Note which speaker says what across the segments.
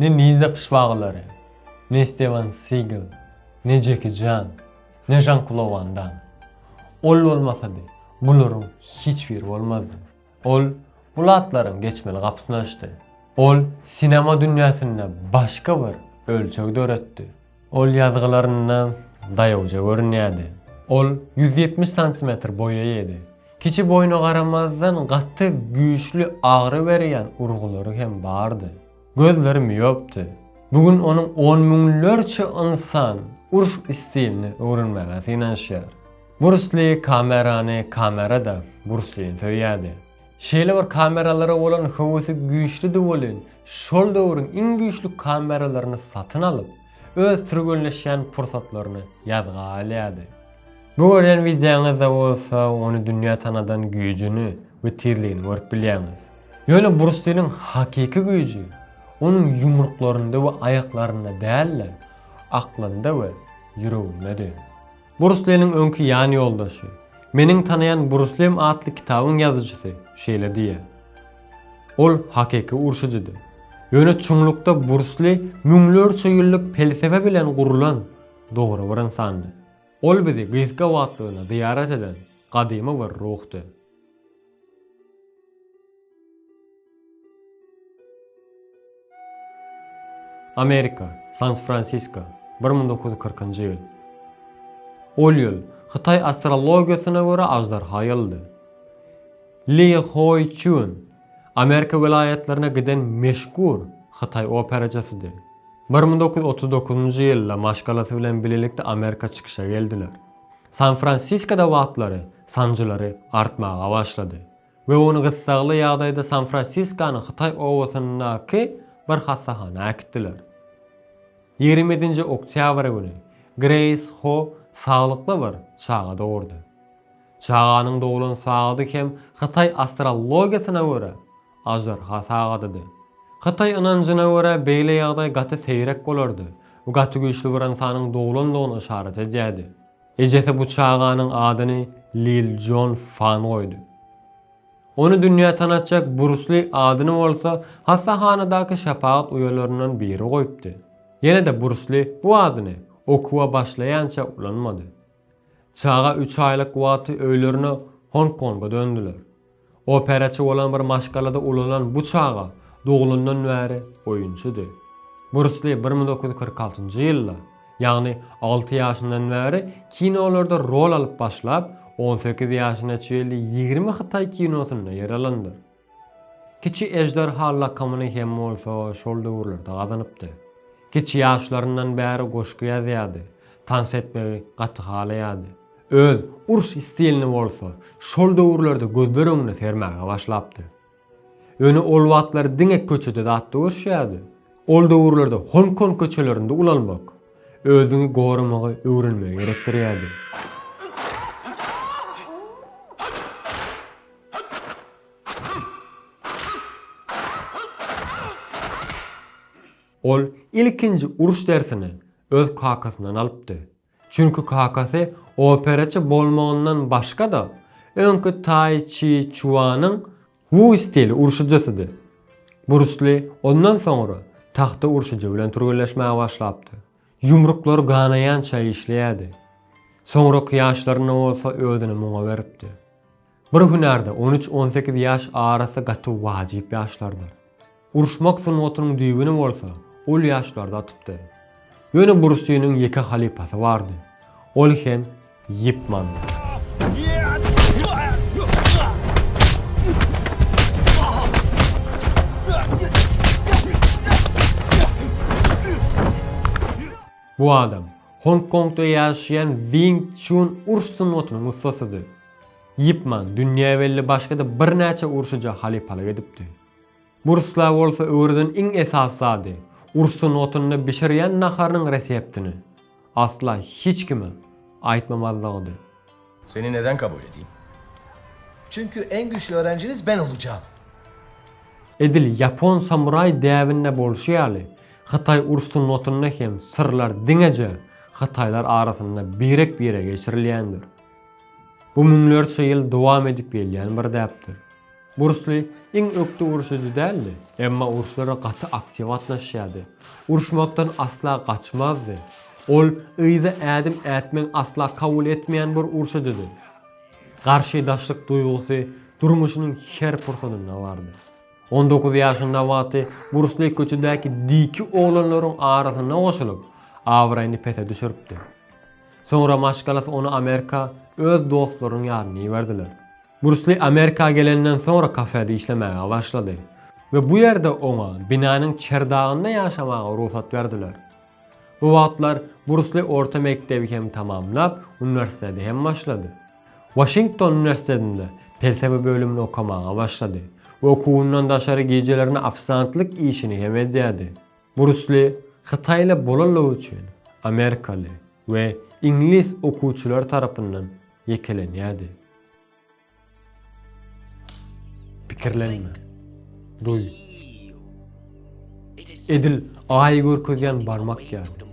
Speaker 1: Ne Ninza pyşbagylary, ne Stewan Sigl, ne Jeki Jan, ne Žan-Klo Wan Dam. Ol bolmasady, bularyň hiç biri bolmazdy. Ol bul atlaryň geçmeli gapysyny açdy. Ol sinema dünýäsinde başga bir ölçeg döretdi. Ol ýazgylarynda daýawja görünýärdi. Ol ýüz ýetmiş santimetr boýa ýedi. Kiçi boýuna garamazdan gaty güýçli agyry berýän urgulary hem bardy. Gözleri miopdy. Bu gün onuň on müňlerçe ynsan uruş stilini öwrenmäge synanyşýar. Brus Li kamerany, kamera-da Brus Lini söýýärdi. Şeýle bir kameralara bolan höwesi güýçlüdi welin, şol döwrüň iň güýçli kameralaryny satyn alyp, öz türgenleşýän pursatlaryny ýazga alýardy. Bu görýän wideoňyzda bolsa ony dünýä tanadan güýjüni we tizligini görüp bilýäňiz. Ýöne Brustiniň hakyky güýji onuň ýumruklarynda we aýaklarynda däl-de, aklynda we ýüregindedi. Brus Leniň öňki ýan ýoldaşy, Meniň tanaýan Brus Lim atly kitabyň ýazyjysy şeýle diýýär, Ol hakyky urşujydy. Ýöne çuňlukda Brus Li müňlerçe ýyllyk pelsepe bilen gurlan dogry bir ynsandy. Ol bizi gysga wagtlygyna zyýarat eden gadymy bir ruhdy. Amerika, San-Fransisko, bir müň dokuz ýüz kyrkynjy ýyl. Ol ýyl, hytaý astrologiýasyna görä aždarha ýylydy. Li Hoi Çun, Amerika welaýatlaryna giden meşhur hytaý operaçysydy. Bir müň dokuz ýüz otuz dokuzynjy ýylda maşgalasy bilen bilelikde Amerika çykyşa geldiler. San-Fransiskoda wagtlary sanjylary artmaga başlady we ony gyssagly ýagdaýda San-Fransiskonyň Hytaý obasyndaky bir hassahana äkitdiler. Ýigrimi ýedinji oktýabr güni Greýs Ho saglykly bir çaga dogurdy. Çaganyň doglan sagady hem Hytaý astrologiýasyna görä, Aždarha sagadady. Hytaý ynanjyna görä beýle ýagdaý gaty seýrek bolardy we gaty güýçli bir ynsanyň doglandygyny yşarat edýärdi. Ejesi bu çaganyň adyny Lil Jon Fan goýdy. Ony dünýä tanatjak Brus Li adyny bolsa hassahanadaky şepagat uýalaryndan biri goýupdy. Ýene-de Brus Li bu adyny okuwa başlaýança ulanmady. Çaga üç aýlyk wagty öýlerine Hong Konga döndüler. Operaçy bolan bir maşgalada ulalan bu çaga dogulandan bäri oýunçydy. Brus Li bir müň dokuz ýüz kyrk altynjy ýylda, ýagny alty ýaşyndan bäri kinolarda rol alyp başlap, on sekiz ýaşyna çenli ýigrimi hytaý kinosynda ýer alandyr. Kiçi ežderha lakamyny hem bolsa şol döwürlerde gazanypdy. Kiçi ýaşlaryndan bäri goşgy ýazýardy, tans etmegi gaty halaýardy. Öz uruş stilini bolsa şol döwürlerde gözler öňüne sermäge başlapdy. Ýöne ol wagtlar diňe köçede zatda görüşýärdi. Ol döwürlerde Hong-Kong köçelerinde ulalmak, özüňi goramagy öwrenmegi gerekdirýärdi. Ol ilkinji uruş dersini öz kakasyndan alypdy. Çünki kakasy operaçy bolmagyndan başga-da, öňki Tai Çi Çuanyň Wu stili urşujysydy. Brus Li ondan soňra tagta urşujy bilen türgenleşmäge başlapdy. Ýumruklary ganaýança işleýärdi. Soňraky ýaşlarynda bolsa özüni muňa beripdi. Bir hünärde on üç, on sekiz ýaş arasy gaty wajyp ýaşlardyr. Uruşmak sungatynyň düýbüni bolsa ol ýaşlarda atypdy. Ýöne Brusliniň ýeke halypasy bardy. Ol hem Ýip Mandy. Bu adam Hong Kongda ýaşaýan Wing Çun uruş sungatynyň ussasydy. Ip Man dünýä belli başga-da birnäçe urşuja halypalyk edipdi. Bu ruslar bolsa öwreden iň esasy zady, urşuň otunda bişirýän naharynyň reseptini asla hiç kime aýtmamazlygydy. Seni
Speaker 2: neden kabul edeyim?
Speaker 3: Çünki en güçli öğrenciniz ben olacağım.
Speaker 1: Edil ýapon samuraý däbinde bolşy ýaly, hytaý uruş sunnatynda hem syrlar diňeje hytaýlar arasynda birek-bire geçirilýändir. Bu müňlerçe ýyl dowam edip gelýän bir däpdir. Bursly iň ökde urşujy däldi, emma urşlara gaty aktiw gatnaşýardy. Urşmakdan asla gaçmazdy. Ol yza ädim ätmegi asla kabul etmeýän bir urşujydy. Garşydaşlyk duýgusy durmuşynyň her pursadynda bardy. On dokuz ýaşynda wagty Bursly köçedäki diki oglanlaryň arasyna goşulyp, abraýyny pese düşüripdi. Soňra maşgalasy ony Amerika öz dostlarynyň ýadyna iberdiler. Brus Li Amerika gelenden soňra kafede işlemäge başlady we bu ýerde oňa binanyň çerdagynda ýaşamaga rugsat berdiler. Bu wagtlar Brus Li orta mekdebi hem tamamlap, uniwersitete hem başlady. Waşington uniwersitetinde pelsepe bölümini okamaga başlady we okuwyndan daşary gijelerine ofisantlyk işini hem edýärdi. Burçly hytaýly bolanlygy üçin amerikaly we iňlis okuwçylary tarapyndan ýekelenýärdi. Pikirlenme. Duý. Edil Aýy görkezýän barmak ýaly.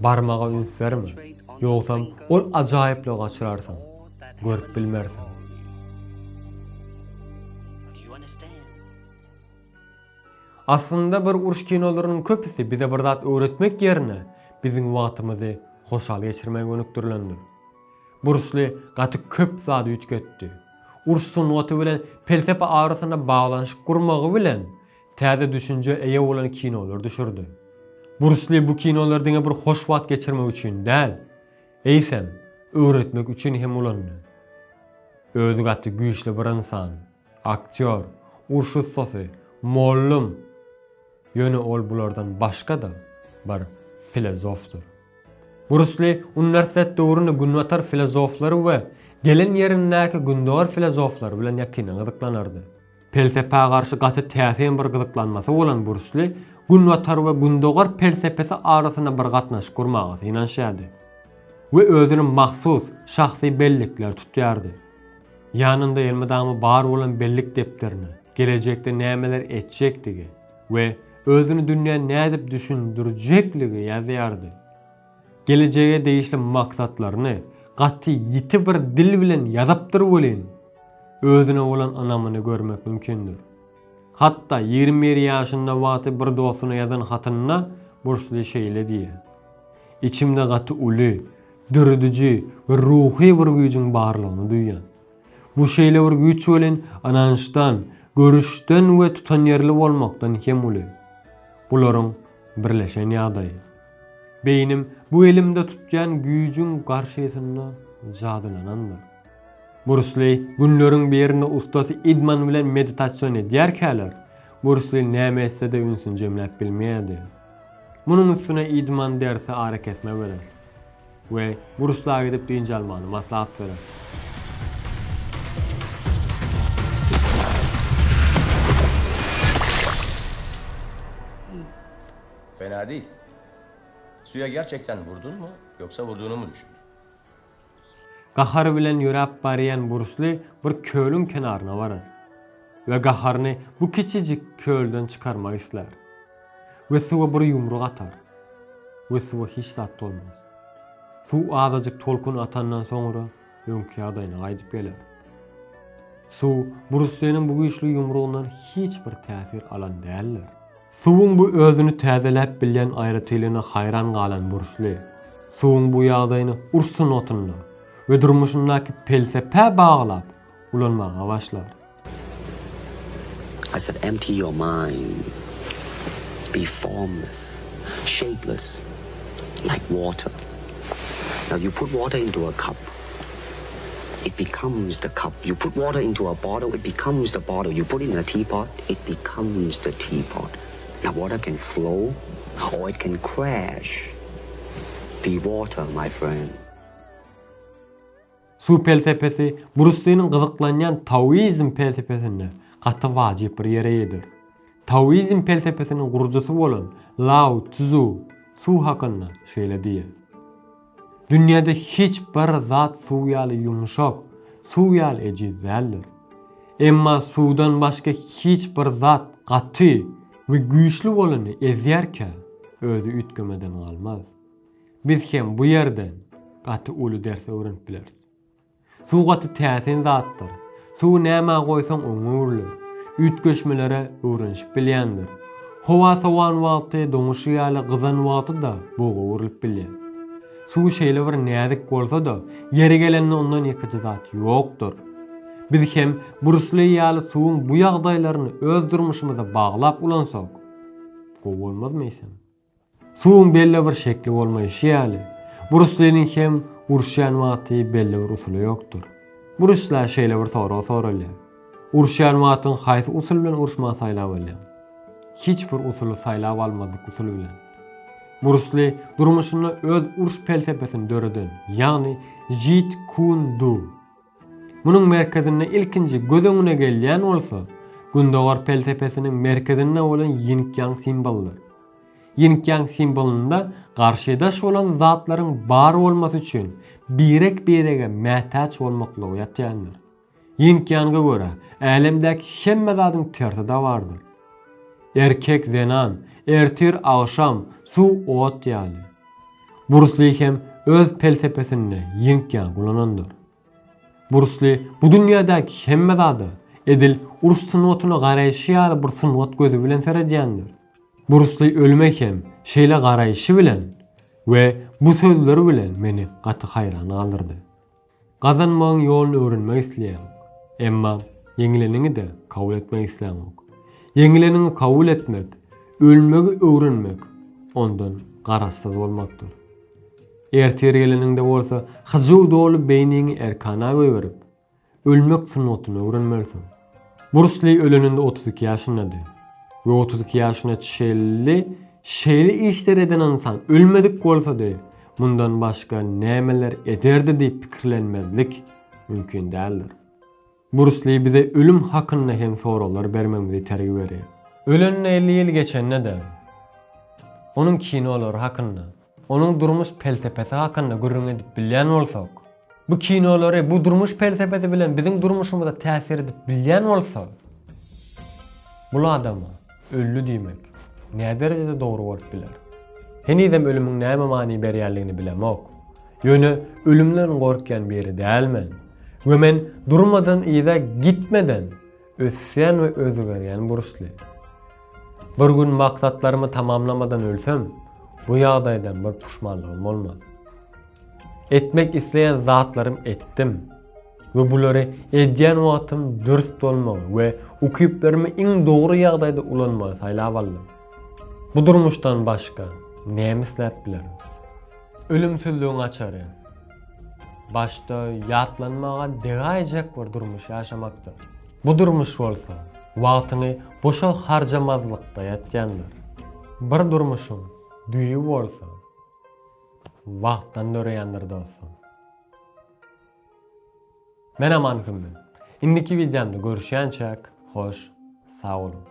Speaker 1: Barmaga üns berme. Ýogsam, ol ajaýyplygy gaçyrarsyň. Görüp bilmersiň. Aslynda bir uruş kinolarynyň köpüsi bize bir zat öwretmek ýerine biziň wagtymyzy hoşal geçirmege gönükdirilendir. Brusli gaty köp zady üýtgetdi. Uruş sungaty bilen pelsepe arasyna baglanyşyk gurmagy bilen täze düşünjä eýe bolan kinolar düşürdi. Brusli bu kinolary diňe bir hoş wagt geçirmek üçin däl, eýsem, öwretmek üçin hem ulandy. Özi gaty güýçli bir ynsan. Aktýor, urş ussasy, mollum. Ýöne ol bulardan başga-da bir filozofdyr. Brusli uniwersitet döwründe günbatar filozoflary we gelen ýerindäki gündogar filozoflary bilen ýakyndan gyzyklanardy. Pelsepä garşy gaty täsin bir gyzyklanmasy bolan Brusli günbatar we gündogar pelsepesi arasynda bir gatnaşyk gurmaga synanyşýardy we özüne mahsus şahsy bellikler tutýardy. Ýanynda elmydama bar bolan bellik depderini, gelejekde nämeler etjekdigi we özüni dünýä nädip düşündirjekligi ýazýardy. Gelejege degişli maksatlaryny gaty ýiti bir dil bilen ýazypdyr welin, özüne bolan ynamyny görmek mümkindir. Hatda ýigrimi bir ýaşynda wagty bir dostuna ýazan hatynda Bursli şeýle diýýär, Içimde gaty uly, dörediji we ruhy bir güýjüň barlygyny duýýan. Bu şeýle bir güýç welin ynançdan, görüşden we tutanýerli bolmakdan hem uly. Bularyň birleşen ýagdaýy. Beýnim bu elimde tutýan güýjüň garşysynda jadylanandyr. Brus Li günleriň birinde ussasy idman bilen meditasion edýärkäler, Brus Li näme etse-de ünsüni jemläp bilmeýärdi. Munuň üstüne idman dersi arakesme berer we Brus La gidip dynç almagyny maslahat berer.
Speaker 2: Fena değil. Suya gerçekten vurdun mu yoksa vurduğuna mı düşündün?
Speaker 1: Gahary bilen ýöräp barýan Brusli bir kölüň kenaryna barar we gaharyny bu kiçijik kölden çykarmak islär we suwa bir ýumruk atar we suwa hiç zat dolmaz. Suw azajyk tolkun atandan soňra öňki ýagdaýyna gaýdyp geler. Suw Brusliniň bu güýçli ýumrugyndan hiç bir täsir alan däldir. Suwuň bu özüni täzeläp bilýän aýratylygyna haýran galan Bursli, suwuň bu ýagdaýyny uruş sungatynda we durmuşyndaky pelsepä baglap ulanmaga başlar. I
Speaker 4: said empty your mind, be formless, shapeless, like water. Now you put water into a cup. It becomes the cup, you put water into a bottle, it becomes the bottle, you put it in a teapot, it becomes the teapot. Now water can flow or it can crash. Be water, my friend.
Speaker 1: Suw pelsepesi Bruslynyň gyzyklanýan taoizm pelsepesinde gaty wajyp bir ýere eýedir. Taoizm pelsepesiniň gurujysy bolan Lao Tzu suw hakynda şeýle diýýär. Dünýäde hiç bir zat suw ýaly ýumşak, suw ýaly ejiz däldir. Emma suwdan başga hiç bir zat gaty we güýçli bolany ezýärkä, özi üýtgemeden galmaz. Biz hem bu ýerden gaty uly ders öwrenip bileris. Suw gaty täsin zatdyr. Suwy nämä goýsaň oňňe öwrüler. Üýtgeşmelere öwrenişip bilýändir. Howa sowan wagty doňuşy ýaly gyzan wagty-da buga öwrülip bilýär. Suw şeýle bir näzik bolsa-da, ýeri gelende ondan ýekeje zat ýokdur. Biz hem Brus Li ýaly suwuň bu ýagdaýlaryny öz durmuşymyza baglap ulansak, gowy bolmazmy eýsem? Suwuň belli bir şekli bolmaýşy ýaly, Brusliniň hem uruşýan wagty belli bir usuly ýokdur. Brusla şeýle bir sorag soralýar, Uruşýan wagtyň haýsy usul bilen uruşmagy saýlap alýaň? Hiç bir usuly saýlap almazlyk usul bilen. Brusli durmuşynda öz uruş pelsepesini döreden, ýagny Jeet Kun Du. Munuň merkezinde ilkinji göz öňüne gelýän bolsa, Gündogar pelsepesiniň merkezinde bolan ýinkýaň simbolydyr. Ýinkýaň simbolynda garşydaş bolan zatlaryň bar bolmasy üçin birek-birege mätäç bolmaklygy ýatýandyr. Ýinkýanga görä, älemdäki hemme zadyň tersi-de bardyr. Erkek-zenan, ertir-agşam, suw-ot ýaly. Brusli hem öz pelsepesinde ýiňk-ýaň ulanandyr. Brusli bu dünýädäki hemme zada edil uruş sungatyna garaýşy ýaly bir sungat gözi bilen seredýändir. Brusli ölüme hem şeýle garaýşy bilen we bu sözleri bilen meni gaty haýran galdyrdy. Gazanmagyň ýoluny öwrenmek isleýäň. Emma ýeňileniňi-de kabul etmek isläňok. Ýeňileniňi kabul etmek, ölmegi öwrenmek, ondan garaşsyz bolmakdyr. Ertir geleniňde bolsa hyjuw doly beýniňi erkana goýberip, ölmek sungatyny öwrenmelisiň. Brusli öleninde otuz iki ýaşyndady we otuz iki ýaşyna çenli şeýle işler eden ynsan ölmedik bolsady, mundan başga nämeler ederdi diýip pikirlenmezlik mümkin däldir. Brusli bize ölüm hakynda hem soraglar bermegimizi itergi berýär. Ölenine elli ýyl geçende-de, onuň kinolary hakynda, Onuň durmuş pelsepesi hakynda gürrüň edip bilýän bolsak. Bu kinolary bu durmuş pelsepesi bilen biziň durmuşymyza täsir edip bilýän bolsa. Bul adama ölli diýmek näderejede dogry bolup biler. Henizem ölümiň näme many berýänligini bilemok. Ýöne ölümden gorkýan biri dälmen. We men durmadan yza gitmeden. Ösýän we özgerýän Brusli. Bir gün maksatlarymy tamamlamadan ölsem, bu ýagdaýdan bir puşmanlygym bolmaz. Etmek isleýän zatlarym etdim we bulary edýän wagtym dürs bolmagy we ukyplarymy iň dogry ýagdaýda ulanmagy saýlap aldym. Bu durmuşdan başga näme isläp bilerin? Ölümsizligiň açary. Başda ýatlanmaga degäýjek bir durmuş ýaşamakdyr. Bu durmuş bolsa, wagtyňy boşa harjamazlykda ýatýandyr. Bir durmuşyň düýbi bolsa, wagtdan döreýändir dostum. Men Aman Hümmi. Indiki wideomda görüşýänçäk, hoş, sag boluň.